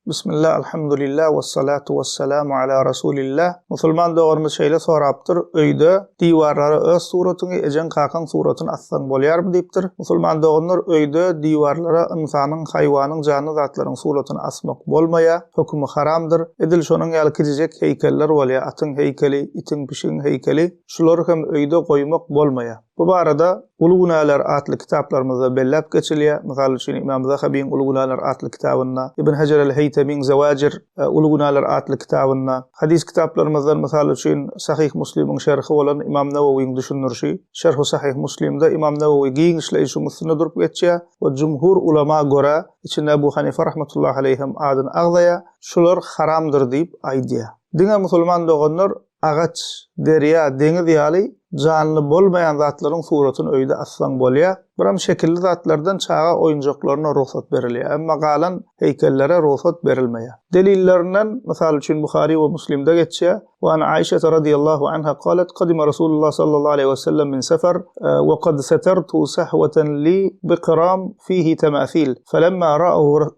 Bismillah Alhamdulillah Wessalatu Wessalamu Ala Rasulillah Musulman doganymyz şeýle sorapdyr, Öýde diwarlara öz suratyňy, ejeň-kakaň suratyny assaň bolýarmy? diýipdir. Musulman doganlar, öýde diwarlara ynsanyň, haýwanyň, janly zatlaryň suratyny asmak bolmaýar, hökümi haramdyr. Edil şonuň ýaly kiçijek heýkeller bolýar, atyň heýkeli, itiň, pişigiň heýkeli. Şulary hem öýde goýmak bolmaýar. Bu barada Uly günäler atly kitaplarymyzda belläp geçilýär. Mysal üçin, Ymam Zahabyň Uly günäler atly kitabynda, Ibn Hejer el-Heýtemiň Zewajir, Uly günäler atly kitabynda, hadys kitaplarymyzdan, mysal üçin, Sahyh Muslimiň şerhi bolan Ymam Nawawyň düşündirişi, Şerhu Sahyh Muslimde Ymam Nawawy giň işleýşiň üstünde durup geçýär we jumhur ulama görä, içinde Ebu Hanife rahmetullahi aleýh hem adyny agzaýar, şular haramdyr diýip aýdýar. Diňe musulman doganlar Agaç, derýa, deňiz ýaly janly bolmaýan zatlaryň suratyny öýde assaň bolýar. Biram şekilli zatlardan çaga oýunjaklaryna rugsat berilýär, emma galan heýkellere rugsat berilmeýär. Delillerinden, mysal üçin, Buhary we Muslimde geçýär, Wa an Aişete radiýallahu anha galet, Gadima Rasulullah sallallahu aleýhi we sellem min sefar, wa kad setertu sahwatan li biqram fihi temasil, felemma ra'ahu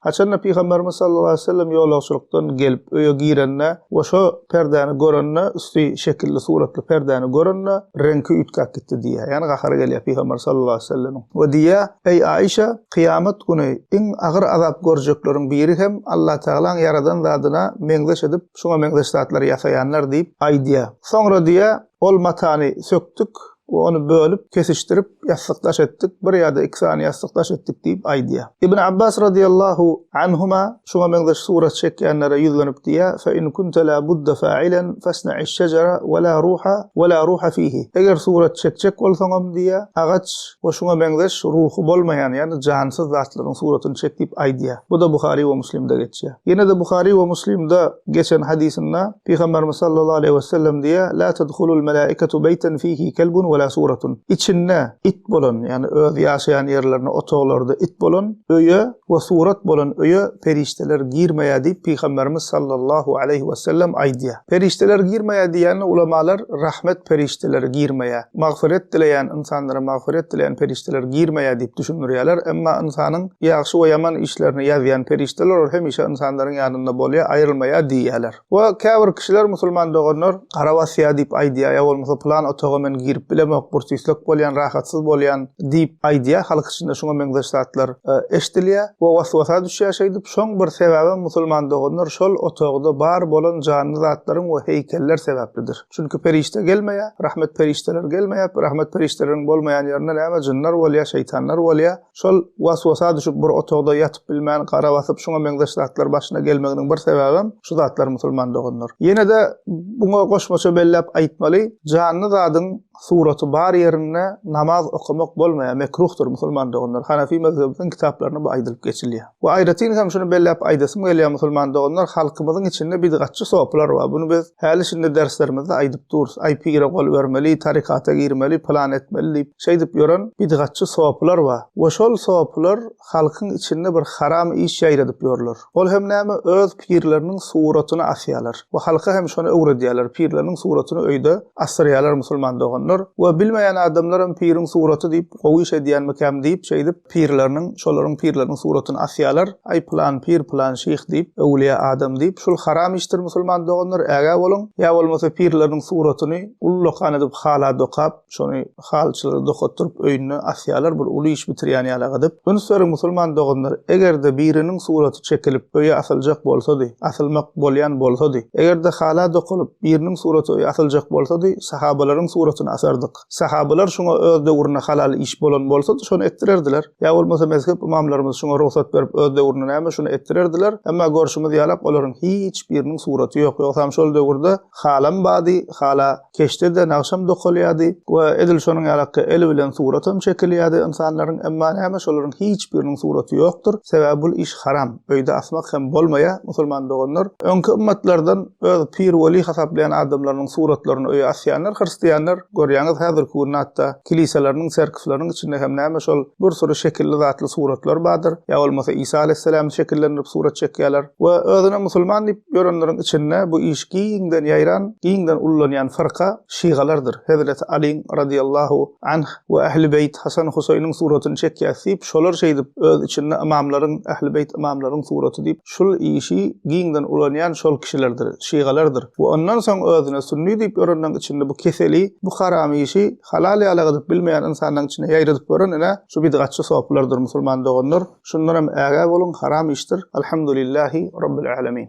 Haçanda Pygamberimiz sallallahu aleýhi we sellem ýolagçylykdan gelip öýe girende we şo perdäni görende, üsti şekilli suratly perdäni görende, reňki üýtgäp gitdi diýýär. Ýagny gahary gelýär Pygamber sallallahu aleýhi we sellemiň we diýýär, Eý Aişa, kyýamat güni iň agyr azap görjekleriň biri hem Allah Tagalaň ýaradan zadyna meňzeş edip, şuňa meňzeş zatlary ýasaýanlar diýip aýdýar. Soňra diýýär, Ol matany sökdük, Ony bölüp, kesişdirip, ýassyk daş etdik, bir ýa-da iki sany ýassyk daş etdik diýip aýdýar. Ibn Abbas radiyallahu anhuma şuňa meňzeş surat çekýänlere ýüzlenip diýýär, Fe in kunte la budda fa'ilen fasna'iş şejara we la ruha we la ruha fihi. Eger surat çekjek bolsaňam diýýär, agaç we şuňa meňzeş ruhy bolmaýan, ýagny jansyz zatlaryň suratyny çek diýip aýdýar. Bu-da Buhari we Muslimde geçýär. Ýene-de Buhary we Muslimde geçen hadysynda Pygamberimiz sallallahu aleýhi we sellem diýýär, La tedhulul melaiketu beýten fihi kelbun we la suratun. Içinde it bolan, ýagny öz ýaşaýan ýerlerinde, otaglarda it bolan öýe we surat bolan öýe perişdeler girmeýär diýip Pygamberimiz sallallahu aleýhi we sellem aýdýar. Perişdeler girmeýär diýýänine ulamalar rahmet perişdeleri girmeýär. Magfyret dileýän ynsanlara magfyret dileýän perişdeler girmeýär diýip düşündirýärler, emma ynsanyň ýagşy we ýaman işlerini ýazýan perişdeler ol hemişe ynsanlaryň ýanynda bolýar, aýrylmaýar diýýärler. We käbir kişiler musulman doganlar gara basýar diýip aýdýar, ýa bolmasa pylan otaga men girip bilemok, bursyslyk bolýan, rahatsyz bolýan diýip aýdýar, halk içinde şuňa meňzeş zatlar eşdilýär we was-wasa düşýär şeýdip, şoň bir sebäbem musulman doganlar şol otagda bar bolan janly zatlaryň we heýkeller sebäplidir. Çünki perişde gelmeýär, rahmet perişdeler gelmeýär, rahmet perişdeleriň bolmaýan ýerinde näme jynlar bolýar, şeýtanlar bolýar. Şol was-wasa düşüp bir otagda ýatyp bilmän, gara basyp şuňa meňzeş zatlar başyna gelmeginiň bir sebäbem şu zatlar musulman doganlar. Ýene-de buňa goşmaça belläp aýtmaly, janly zadyň suraty bar ýerinde namaz okamak bolmaýar, mekruhdyr, musulman doganlar, Hanefi mezhebimiziň kitaplarynda bu aýdylyp geçilýär. We aýratyn hem şuny belläp aýdasym gelýär, musulman doganlar, halkymyzyň içinde bidgatçy sopylar bar, buny biz häli-şindi derslerimizde aýdyp durus, aý pire gol bermeli, tarykata girmeli, pylan etmeli diýip, şeýdip ýören bidgatçy sopylar bar we şol sopylar halkyň içinde bir haram iş ýaýradyp ýörler. Ol hem näme, öz pirleriniň suratyny asýarlar we halka hem şony öwredýärler, pirleriniň suratyny öýde asdyrýarlar musulman doganlar we bilmeýän adamlaram piriň suraty diýip, gowy iş edýänmikäm diýip, şeýdip pirleriniň, şolaryň pirleriniň suratyny asýarlar, aý pylan pir, pylan şyh diýip, öwlüýä adam diýip, şul haram işdir musulman doganlar, ägä boluň, ýa bolmasa pirleriniň suratyny ullakan edip hala dokap, Şony halyçylar dokatdyryp öýünde asýarlar bir uly iş bitirýän ýaly gydyp. Üns beriň musulman doganlar, eger-de biriniň suraty çekilip öýe asyljak bolsady, asylmak bolýan bolsady, eger-de hala dokalyp biriniň suraty öýe asyljak bolsady, sahabalaryň suratyny asardyk. Sahabalar şoňa öz döwründe halal iş bolan bolsady şony etdirerdiler. Ýa bolmasa mezhep ymamlarymyz şoňa rugsat berip öz döwründe näme şony etdirerdiler. Emma görşümiz ýalak olaryň hiç biriniň suraty ýok. Ýogsam şol döwürde halam bady, hala. keşdeden agşam dokalýardy we edil şonuň ýalakka el bilen suratam çekilýärdi ynsanlaryň emma näme şolaryň hiç biriniň suraty ýokdur sebäbi bul iş haram öýde asmak hem bolmaýa musulman doganlar öňki ymmatlardan öz pir weli hasaplaýan adamlarynyň suratlaryny öýe asýanlar hyrstýanlar görýäňiz häzirki gün hatda Kiliseleriniň, tserkwleriniň içinde hem näme şol bir süri şekilli zatly suratlar bardyr, ýa bolmasa Isa Aleýhissalamy şekillendirip surat çekýärler we özüne musulman diýip ýörenleriň içinde bu iş giňden ýaýran, giňden ullanýan fyrka şygalardyr, Hezreti Alyň, radyýallahu anh, we Ähli beýt, Hasan Husaýnyň suratyny çekýäs diýip, şolar şeýdip öz içinde ymamlaryň, Ähli beýt ymamlaryň suraty diýip, şul işi giňden ulanýan şol kişilerdir, şygalardyr. Bu ondan soň özüne sünni diýip ýörenleň içinde bu keseli, bu haram işi halal ýaly gydyp bilmeýän ynsanlaň içine ýaýradyp ýören ine şu bidgatçy sopylardyr musulman doganlar, şundanam ägä boluň haram işdir, Alhamdulillahi Rabbil Alemin.